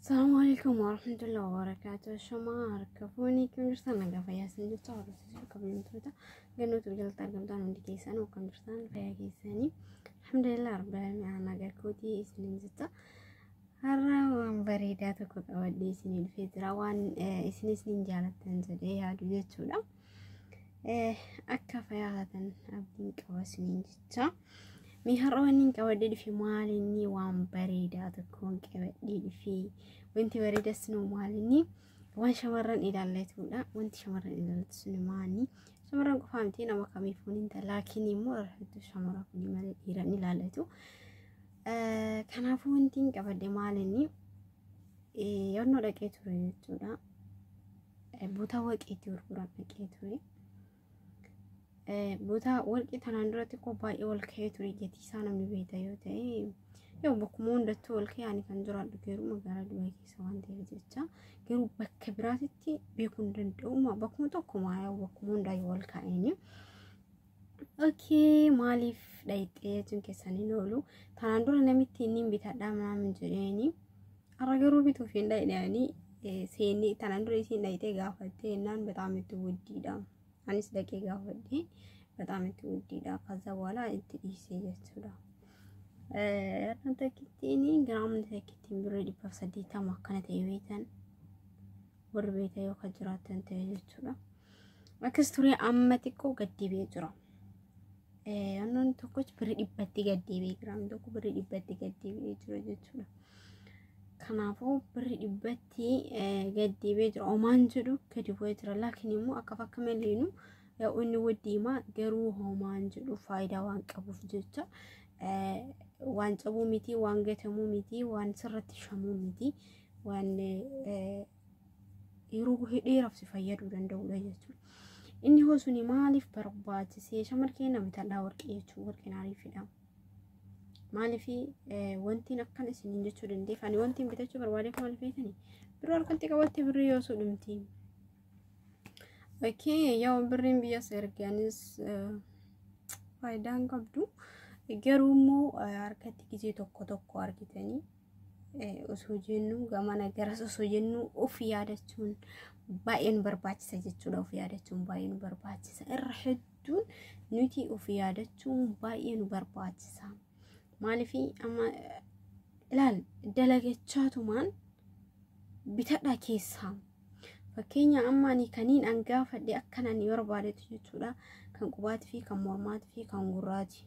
Assalamu alaikum warahmatullahi wabarakatuh. Shama harka fuunii kan jirtan nagaa fayyaa isin jirtu hordofsiisuu kabajamtoota gannoota biqiltoota argamtaan hundi keessan kan jirtan fayyaa keessanii alhamdulillah rabbil alamin ana nagaa kootii isiniin jirta. Har'a waan bareedaa tokko qabadhee isinii dhufee jira waan isin isiniin jaalattan jedhee yaadu jechuudha. Akka fayyaa taatan abdiin qaba isiniin jecha. Mee har'a waan inni qabadee dhufe maal inni waan bareedaa tokkoon qabadee dhufe. Wanti bareedaa sinoo maal inni waan shamarran ilaallatudha. Wanti shamarran ilaallatu sun maali? Shamarran qofaa miti nama kamiifuu ni ta'a. Laakiin immoo rafetu shamarran kun malee dhiira ni ilaallatu. Kanaafuu wanti inni qabadee maal inni yaadnoo dhaqee ture jechuudha. Butaa warqii itti gurguran dhaqee ture. Butaa warqii tanaan duratti koo baay'ee ol ka'ee ture gatii isaa namni beekta yoo ta'e yoo bakkuma hundattuu ol ka'ee ani kan jiraadhu garuu magaalaa Dubaay keessa waan ta'eef jecha garuu bakka biraatitti beekuu hin danda'u bakkuma tokkuma bakkuma hundaa yoo ol ka'een. Okay, maaliif dhayxee jechuun keessan hin oolu. Kanaan dura namitti inni hin bitadhaa maam jedheeni. Har'a garuu bituuf hin dhayxeeni. Seenni tanaan dura isiin dhayxee gaafattee jennaan bataam itti wuddiidha. Anis dhaqee gaafadhee bataam itti wuddiidha. Kaza boola itti dhiisee jechuudha. Har'a takkittiin giraamni takkittiin birrii dhibbaaf saddeettama akkana ta'e beektan warri beektan yoo kan jiraattan ta'e jechuudha. Akkas turee amma xiqqoo gad deebi'ee jira. Annoon tokkoch birri dhibbatti gad deebi'ee jira. Annoon tokko birri dhibbatti gad deebi'ee jira jechuudha. Kanaafuu birri dhibbatti gad deebi'ee jira. Omaan jedhu gadi bu'ee jira. Laakiin immoo akka fakka maleenu yaa'u inni waddiimaa garuu homaan jedhu faayidaa waan qabuuf jecha waan cabuu miti, waan gatamuu miti, waan sirratti shamuu miti, waan yeroo buhee dheeraaf si fayyaduu danda'udha jechuudha. Inni hoo suni maaliif barbaachisee shamar keenya bitadhaa warqee jechuun warqeen ariifidha. Maaliif wantiin akkan isiniin jechuu dandeef ani wantiin bitachuu barbaadeef maaliif beekani biroo harkatti qabatte birrii yoo sudhumti. Okee yoo birriin biyyas erganis faayidaan qabdu garuu immoo harkatti gizee tokko tokko argitanii osoo jennu gamana garas osoo jennu of yaadachuun baay'ee nu barbaachisa jechuudha. Of yaadachuun baay'ee nu barbaachisa. Irra hedduun nuti of yaadachuun baay'ee nu barbaachisa. Maaliif amma ilaal dalagachaatumaan bitadhaa keessaa. Fakkeenya amma ani kaniin an gaafadhe akkan ani barbaadetu jechuudha. Kan qubaatii fi kan mormaatii fi kan gurraati.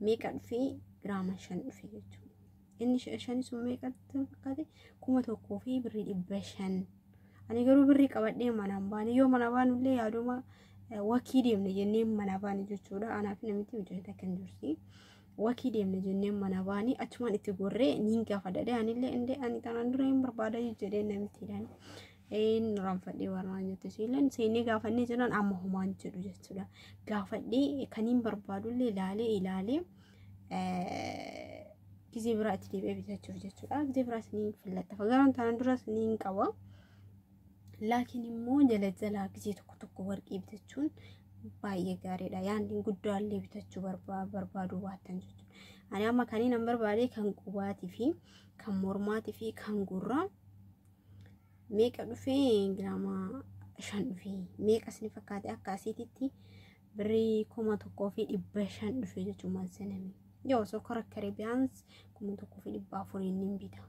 meeqa dhufe giraama shan dhufe jechuudha. Inni shan sun meeqa fakkaate kuma tokkoo fi birrii dhibba shan. Ani garuu birrii qabadhee manaan baane yoo mana baanullee yaaduma wakii deemne jennee mana baane jechuudha. Anaaf namitti hojii takka hin jirti. Wakii deemne jennee mana baane achumaan itti gorree niin gaafadha. Anillee indee ani tanaan dura hin barbaada jedhee namittiidhaan. Een ranfadhee warraa nyatte siileen seenee gaafannee jiran amma homaan jedhu jechuudha. Gaafadhee kaniin barbaadullee ilaalee ilaalee gizee biraa itti deebi'ee bitachuuf jechuudha. Gizee biraas ni fillattafa. Garuu tanan duras ni hin qaba. Laakiin immoo jala jalaa gizee tokko tokko warqii bitachuun baay'ee gaariidha. Yaanni guddaallee bitachuu barbaaduu baattan jechuudha. Ani amma kaniin an barbaade kan qubaatii fi kan mormaatii fi kan gurraa meeqa dhufee giraama shan dhufee meeqa isin fakkaate akka asiititti birrii kuma tokkoo fi dhibba shan dhufee jechuun maal seename yoo osoo kora karibiyaans kuma tokkoo fi dhibba afuriin ni bita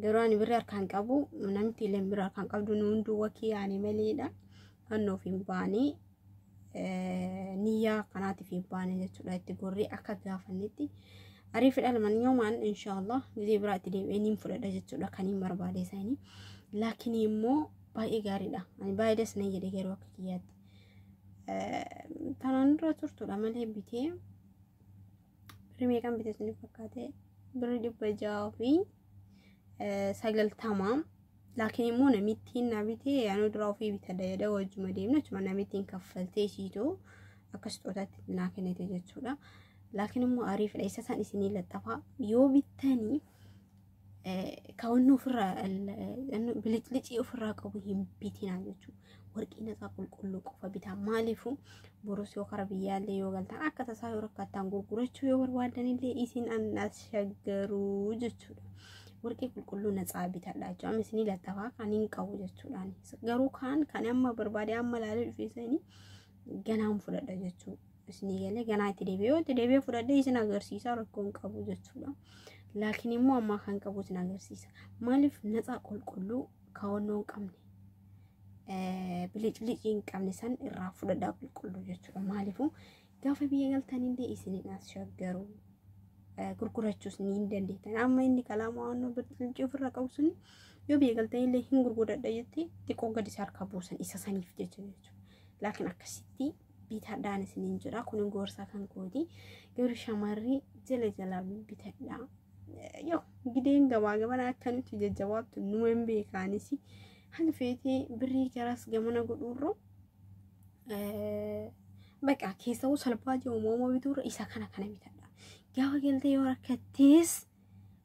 garuu ani birrii harkaan qabu namti ileen birrii harkaan qabdu nu hunduu wakii yaani maleedha kan nuuf hin baane niyyaa kanaatiif hin baane jechuudha itti gorree akka gaafannetti ariifidha laman yoomaan inshaallah gizee biraa itti deebi'ee niin fudhadha jechuudha kan hin barbaade isaanii laakiin immoo baay'ee gaariidha ani baay'ee das nan jedhe garuu akka kiyyaatti tanaan dura turtuudha malee bitee birrii meeqan bitee sun fakkaate birrii dhibba ja'a fi sagaltamaa Laakiin immoo namittiin na bitee anuu dura ofii bitadha jedhee wajjuma deemna jechuudha. Namittiin kaffaltee siitu akka sixootaatti naa kennite jechuudha. Laakiin immoo ariifadha. Isa isaan isinii laxxafaa yoo bittanii kawanni ofirraa biliclicii ofirraa qabu hin bitinaa jechuudha. warqii naqaa qulqulluu qofa bitaa maaliifuu borus yoo kara biyyaallee yoo galtan akka tasaa yoo rakkattaan gurgurachuu yoo barbaadanillee isin annas shaggaruu jechuudha. Warqii qulqulluu naqaa bitadha jechuudha. Amma isinii lattafaa kan hin qabu jechuudhaan. Garuu kaan kan amma barbaade amma ilaalee dhufeessanii ganaan fudhadha jechuudha. Isinii galee ganaa itti deebi'ee yoo itti deebi'ee fudhadhee isin agarsiisaa rakkoo hin qabu jechuudha. Laakiin immoo ammaa kan qabu isin agarsiisa. Maaliif naqaa qulqulluu kaawwannoo hin qabne? biliclicii hin qabne san irraa fudhadhaa qulqulluu jechuudha. Maaliifuu gaafa biyya galtan illee isiniin as shaggaru gurgurachuus ni hin dandeettan. Amma inni kalaama waan bilicii ofirraa qabu sun yoo biyya galtan illee hin gurguradha jettee xiqqoo gadi isa harkaa buusan isa saniif jecha jechuudha. Laakiin akkasitti bitadhaan isiniin jedha kun gorsa kan kooti garuu shamarri jala jalaa bitadhaa yoo gideen gabaa gabana akka nuti jajjabaattu numa hin beekaanis hanga feetee birrii garas gamana godhuurra baqa keessawuu salphaa jiru moomoo bituurra isa kana kana bitadha gaafa galtee yoo rakkattees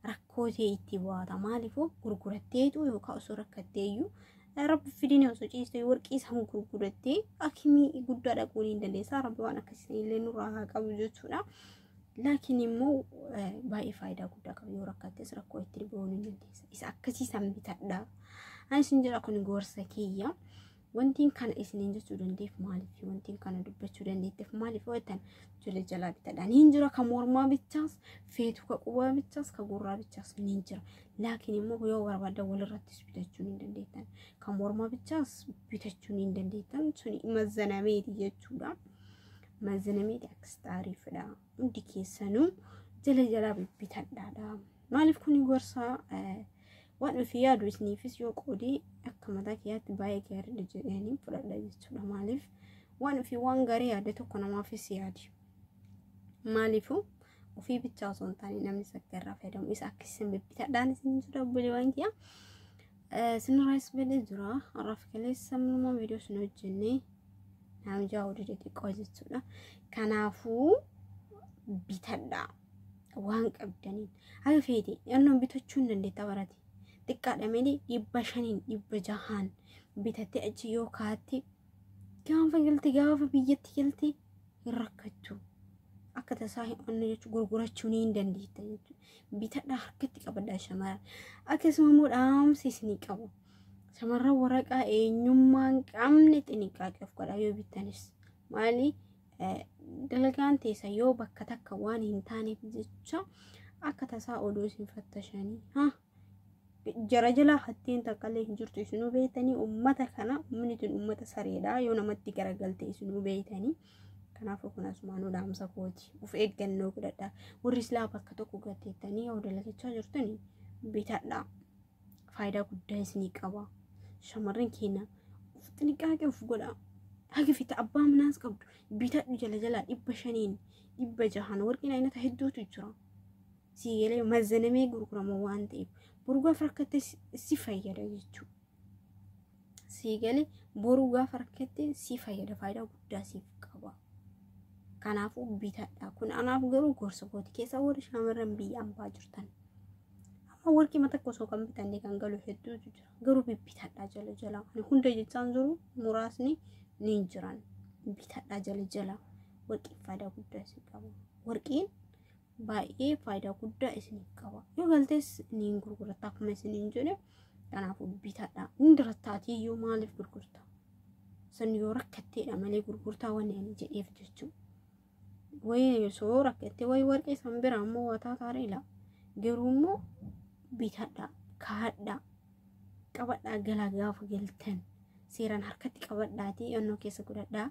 rakkoo ta'e itti bu'aata maaliifuu gurguratteetu yookaan osoo rakkatteeyyuu rabbi fidinee osoo ciistee warqii san gurgurattee akimii guddaa dhaquu ni dandeessa rabbi waan akkasii illee nurraa haa qabu jechuudha. Laakiin immoo baay'ee faayidaa guddaa qaba yoo rakkattes rakkoo itti bu'uu ni dandeessa. Isa akkasii san bitadha. Anis hin jedha kun gorsa kiyya. Wantiin kana isiniin jechuu dandeef maaliif wantiin kana dubbachuu dandeetteef maaliif jettan ijoollee jalaa bitadha. Niin jira ka mormaa bichaas feetu ka qubaa bichaas ka gurraa bichaas niin jira. Laakiin immoo yoo barbaaddan walirrattis bitachuu niin dandeettan. Ka mormaa bichaas bitachuu niin dandeettan suni mazzanameeti jechuudha. Mazzanameeti akkasitti ariifadha. Hundi keessanuu jala jalaa bitadhaadha. Maaliif kuni gorsaa Waan ofii yaadu isiniifis yoo qoodee akka mataa kiyyaatti baay'ee gaariidha jedhanii fudhadha jechuudha. Maaliif waan ofii waan gaarii yaade tokko namaafis yaadi. Maaliifuu ofii bichaa osoo hin taane namni sakka irraa fayyadamu isa akka isin bibbitadhaan isin jira obboleewwan kiyya. Sinirraayis badee jira. Har'aaf kaleessa mul'umaa viidiyoo isin hojjennee naamjaa oduu xixiqqoo jechuudha. Kanaafuu bitadhaa. waan qabdaniin haga feete annoon bitachuu hin dandeetta barate xiqqaadha malee dhibba shaniin dhibba jahaan bitattee achi yoo kaatte gaafa galte gaafa biyyatti galte hin rakkattu akka tasaa hin onne jechuun gurgurachuu ni hin dandeetta jechuudha bitadhaa harkatti qabadhaa shamarran akkasuma immoo dhaamsi isinii qabu shamarran waraqaa eenyummaa hin qabne xiniqqaaqeef godhaa yoo bittanis maali Dalagaan teessan yoo bakka takka waan hin taaneef jecha akka tasaa oduu isin fattashanii ha jara jalaa hatteen takkaallee hin jirtu isinuu beektanii ummata kana ummanni tun ummata sareedha yoo namatti garagalte isinuu beektanii kanaafuu kun asumaanuu dhaamsa kooti of eeggannoo godhadha warri silaa bakka tokko gatteettanii yoo dalagachaa jirtanii bitadhaa. faayidaa guddaa isinii qaba. Shamarran keenya of xinqaaqee of godhaa. Haga fita abbaa manaas qabdu bitadhu jala jalaa dhibba shaniin dhibba jahan warqeen aynata hedduutu jira. Sii galee mazanamee gurgurama waan ta'eef burgaaf rakkatte si fayyada jechuudha. sii gale boruu gaafa rakkatte sii fayyada faayidaa guddaa siif qaba. Kanaafuu bitadha. Kun anaaf garuu gorsa kooti keessaa warri shamarran biyya ambaa jirtan. Amma warqima takka osoo kan bitanne kan galu hedduutu jira. Garuu bibbitadha jala jala. Ani hunda jechaan jiru muraasni ni jiran. Bitadha jala jala. Warqiin faayidaa guddaa siif qaba. Warqiin baay'ee faayidaa guddaa isiniif qaba. Yoo galtees ni hin gurguratta akkuma isin hin jedhe kanaafuu bitadha. Hundi rattaatii iyyuu maaliif gurgurta? Sun yoo rakkatteedha malee gurgurtaa wanni ani jedheef jechuudha. Wayii osoo rakkattee wayii warqee san bira ammoo wataa taariila. Garuu immoo bitadha, kaadha, qabadhaa galaa gaafa galtan seeraan harkatti qabadhaatii onnoo keessa godhadhaa.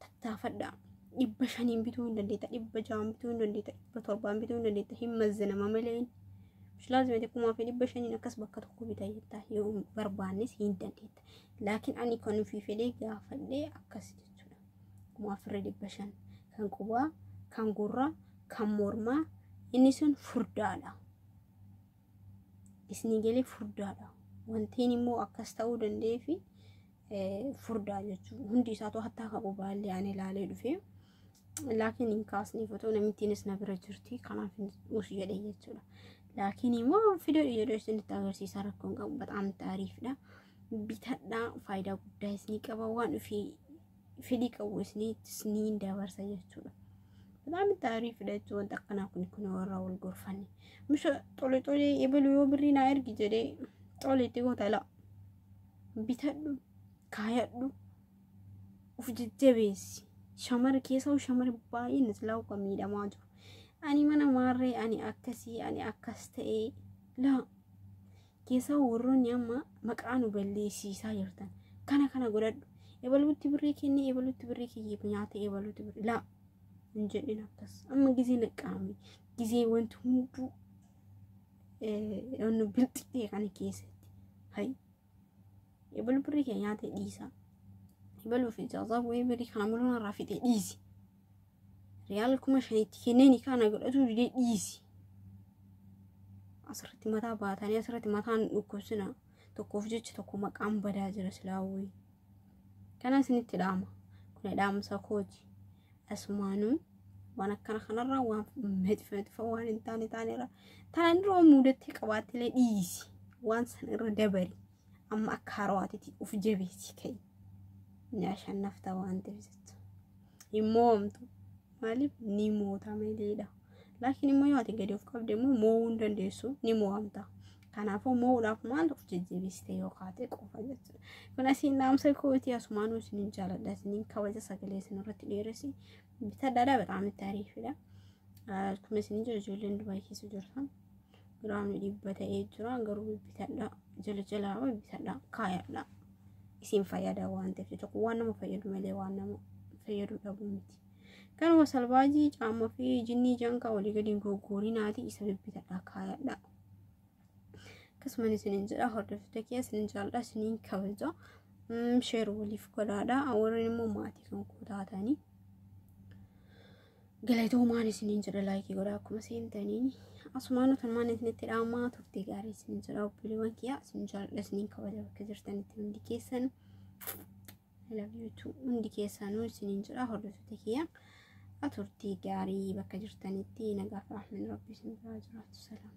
tattaafadhaa. Dhibba shaniin bituu hin dandeetta, dhibba ja'aan bituu hin dandeetta, dhibba torbaan bituu hin dandeetta, hin mazzinama malee. Mushlaazimati kumaa fi dhibba shaniin akkas bakka tokko bita jetta yoo hin barbaannes hin dandeetta. Laakiin ani kan ofii fedhee gaafadhee akkas jechuudha. Kumaa fi dhibba shan kan qubaa, kan gurraa, kan mormaa inni sun furdaadha. isni galee furdaadha. Wantiin immoo akkas ta'uu danda'ee fi furdaa jechuudha. Hundi isaatu hattaa qabu baallee ani ilaalee dhufee. Laakiin hin kaasne fotoo namittiinis na bira jirti. Kanaaf hin uus jedhe jechuudha. Laakiin immoo fidoo jedhee isinitti agarsiisaa rakkoon qabu bataam taariifdha. Bitadhaa faayidaa guddaa isinii qaba waan ofii fedhii qabu isiniittis ni dabarsa jechuudha. Bitaami taarii fidachuu wanta akkanaa kun kun warra wal gorfanne. Misha xole xole ebalu yoo birrii naa ergi jedhee xole itti goota laa. Bitadhu kaayadhu of jajjabeessi. Shamara keessaa shamara baay'een islaawu kan miidhamaa jiru. Ani mana maarree ani akkasii ani akkas ta'ee laa. keessaa warroonni amma maqaa nu balleessiisaa jirtan kana kana godhadhu ebaluutti birrii kennee ebaluutti birrii kiyyeef nyaata ebaluutti birrii laa hin jedhin akkas amma gizee naqqaame gizee wanti hunduu wannu bilxixee kana keessatti hay ebalu birrii kee nyaata dhiisaa ebaluuf ijaazaa bu'ee birrii kana mul'uun irraa fixee dhiisi Riyaala kuma shanitti kennee nikaa na godhatuu didee dhiisi. Asirratti mataa baatanii asirratti mataan dhukkubsina. Tokkoof jecha tokko maqaan badaa jira silaawwii. Kana isinitti dhaama. Kun dhaamsa kooti. Asumaanuu waan akkana kanarraa waan mexifa mexifa waan hin taane taanerra taanaan dura waan muudattee qabaattilee dhiisi. Waan san irra dabari. Amma akka haarawaatitti of jabeessi ka'i. Ni ashannafta waan ta'eef jecha. hin mo'amtu maaliif ni moota maleedha laakiin immoo yoo ati gadi of qabde immoo mo'uu hin dandeessu ni mo'amta kanaafuu mo'uudhaaf maal of jajjabeessite yoo kaate qofa jechuudha kun asiin dhaamsa kooti asumaan isinin jaaladha isinin kabaja sagalee isin irratti dheeresi bitadhaadha bataam itti ariifidha kun isinin jira ijoolleen dubaayii keessa jirtan giraamni dhibba ta'ee jira garuu bibbitadha jala jalaa bibbitadha kaayadha isin fayyada waan ta'eef jecha kun waan nama fayyadu malee waan nama fayyadu dhabuu miti kanuma salbaajii caamma fi jinnii janka walii gadi hin goggoorinaati isa bibbitadha kaayadha akkasumas isinin jedha hordoftoota kee isinin jaalladha isinin kabaja sheer waliif godhaadha warreen immoo maatii kan koo taatanii Galatoomaan isiniin jedha laayikii godhaa akkuma seentaniin asumaan utumaan isinitti dhaamaa turtii gaarii isiniin jedha obboleewwan kiyyaa isin jaalladha isiniin kabaja bakka jirtanitti hundi keessan labiitu hundi keessanuu isiniin jedha hordoftoota kiyyaa turtii gaarii bakka jirtanitti nagaaf rahmin rabbi isin biraa jiraatu salaam.